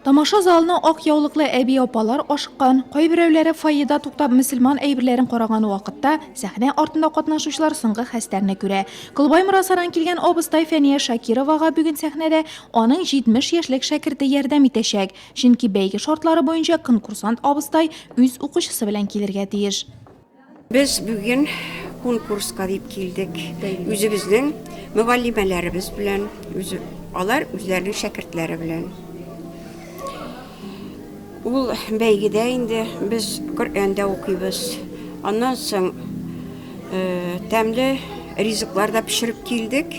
Тамаша залына ак яулыклы әби-апалар ашыккан, кайберәүләре фойеда туктап мөселман әйберләрен караган вакытта, сәхнә артында катнашучылар соңгы хәстәрне күрә. Колбай Морасадан килгән абыстай Фәния Шакировага бүген сәхнәдә аның 70 яшьлек шәкерте ярдәм итәчәк, чөнки бәйге шартлары буенча конкурсант абыстай үз укучысы белән килергә тиеш. Без бүген конкурска дип килдек. Үзебезнең мөгаллимәләребез белән, үз, алар үзләренең шәкертләре белән. Ул бәйгедә инде без Коръәндә укыйбыз. Аннан соң э, тәмле ризыклар да пешереп килдек.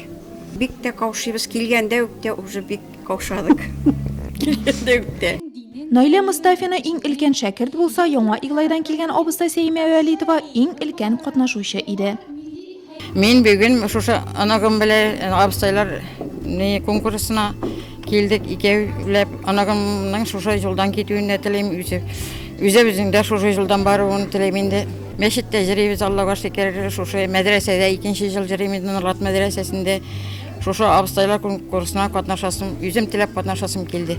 Бик тә каушыйбыз. Килгәндә үк тә уже бик Каушадык. Килгәндә үк тә. Наилә Мостафина иң өлкән шәкерт булса, Яңа Иглайдан килгән абыстай Сәимә Вәлитова иң өлкән катнашучы иде. Мин бүген шушы оныгым белән абыстайлар конкурсына килдек. Икәүләп оныгымның шушы юлдан китүен дә телим, үзе үзебезнең дә шушы юлдан баруын телим инде. Мәчеттә җырыйбыз, Аллага шөкер, шушы мәдрәсәдә икенче ел җырыйм инде, Норлат мәдрәсәсендә. Шушы абыстайлар конкурсына катнашасым, үзем теләп катнашасым килде.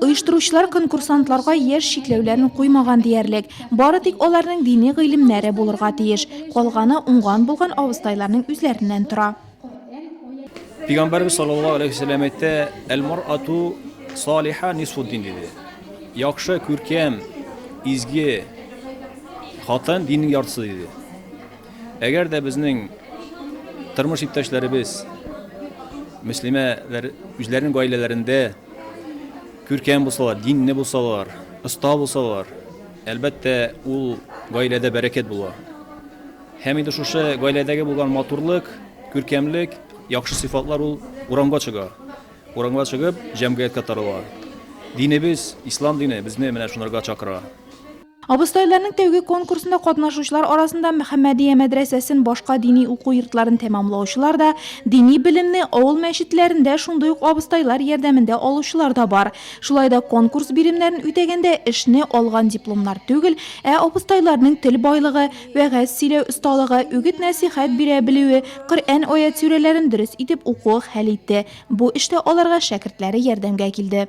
Оештыручылар конкурсантларга яшь чикләүләрен куймаган диярлек. Бары тик аларның дини гыйлемнәре булырга тиеш. Калганы уңган булган абыстайларның үзләреннән тора. Пигамбәрбез саллаллаһу алейхи вәсәлләм әйтә, "Әл-мар'ату салиха нисфуддин" диде. Яхшы, күркәм, изге хатын диннең яртысы диде. Әгәр дә безнең тормыш иптәшләребез, мөслимәләр үзләренең гаиләләрендә күркәм булсалар, динле булсалар, оста булсалар, әлбәттә, ул гаиләдә бәрәкәт була. Һәм инде шушы гаиләдәге булган матурлык, күркәмлек, яхшы сыйфатлар ул урамга чыга. Урамга чыгып, җәмгыятькә тарала. Динебез, ислам дине безне менә шунырга чакыра. Абыстайларның тәүге конкурсында катнашучылар арасында Мөхәммәдия мәдрәсәсен, башка дини уку йортларын тәмамлаучылар да, дини белемне авыл мәчетләрендә шундый ук абыстайлар ярдәмендә алучылар да бар. Шулай да конкурс биремнәрен үтәгәндә эшне алган дипломнар түгел, ә абыстайларның тел байлыгы, вәгазь сөйләү осталыгы, үгет-нәсыйхәт бирә белүе, Коръән аять-сүрәләрен дөрес итеп укуы хәл итте. Бу эштә аларга шәкертләре ярдәмгә килде.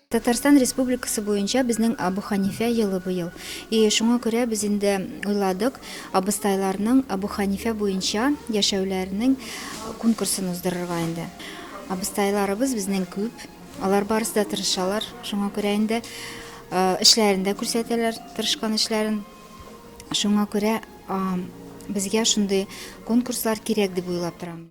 Татарстан Республикасы буенча безнең Абу Ханифә елы быел. И шуңа күрә без инде уйладык, абыстайларның Абу Ханифә буенча яшәүләренең конкурсын уздырырга инде. Абыстайларыбыз безнең күп, алар барысы да тырышалар, шуңа күрә инде эшләрен дә күрсәтәләр, тырышкан эшләрен. Шуңа күрә безгә шундый конкурслар кирәк дип уйлап торам.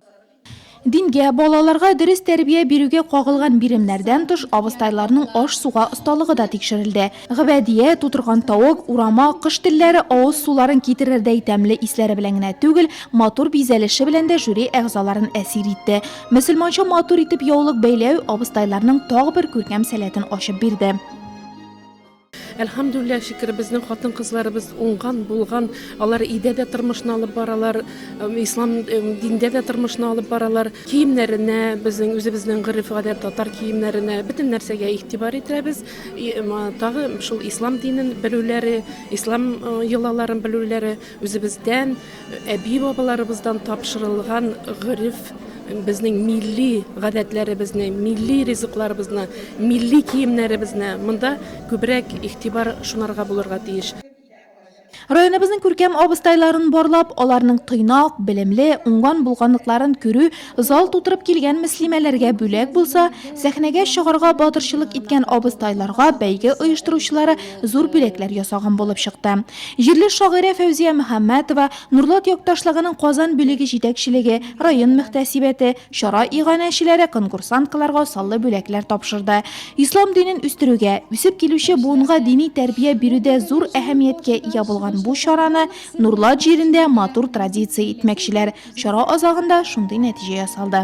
Дингә, балаларга дөрес тәрбия бирүгә кагылган биремнәрдән тыш, абыстайларның аш-суга осталыгы да тикшерелде. Гөбәдия, тутырган тавык, урама, кош телләре, авыз суларын китерердәй тәмле исләре белән генә түгел, матур бизәлеше белән дә жюри әгъзаларын әсир итте. Мөселманча матур итеп яулык бәйләү абыстайларның тагы бер күркәм сәләтен ачып бирде. Әлхәмдүлилләһ, шөкер, безнең хатын-кызларыбыз уңган, булган, алар өйдә дә тормышны алып баралар, ислам диндә дә тормышны алып баралар. Киемнәренә, безнең үзебезнең гореф-гадәт татар киемнәренә, бөтен нәрсәгә игътибар итәбез. Тагы шул ислам динен белүләре, ислам йолаларын белүләре үзебездән, Әби-бабаларыбыздан тапшырылган гореф, безнең милли гадәтләребезне, милли ризыкларыбызны, милли киемнәребезне, монда күбрәк игътибар шунарга булырга тиеш. Районыбызның күркәм абыстайларын барлап, аларның тыйнак, белемле, уңган булганлыкларын күрү, Зал тутырып килгән мөслимәләргә бүләк булса, сәхнәгә чыгарга батырчылык иткән абыстайларга бәйге оештыручылары зур бүләкләр ясаган булып чыкты. Җирле шагыйрә Фәүзия Мөхәммәтова, Нурлат якташлыгының Казан бүлеге җитәкчелеге, район мөхтәсибәте, чара иганәчеләре конкурсанткаларга саллы бүләкләр тапшырды. Ислам динен үстерүгә, үсеп килүче буынга дини тәрбия бирүдә зур әһәмияткә ия булган бу чараны Нурлат җирендә матур традиция итмәкчеләр. Чара азагында шундый нәтиҗә ясалды.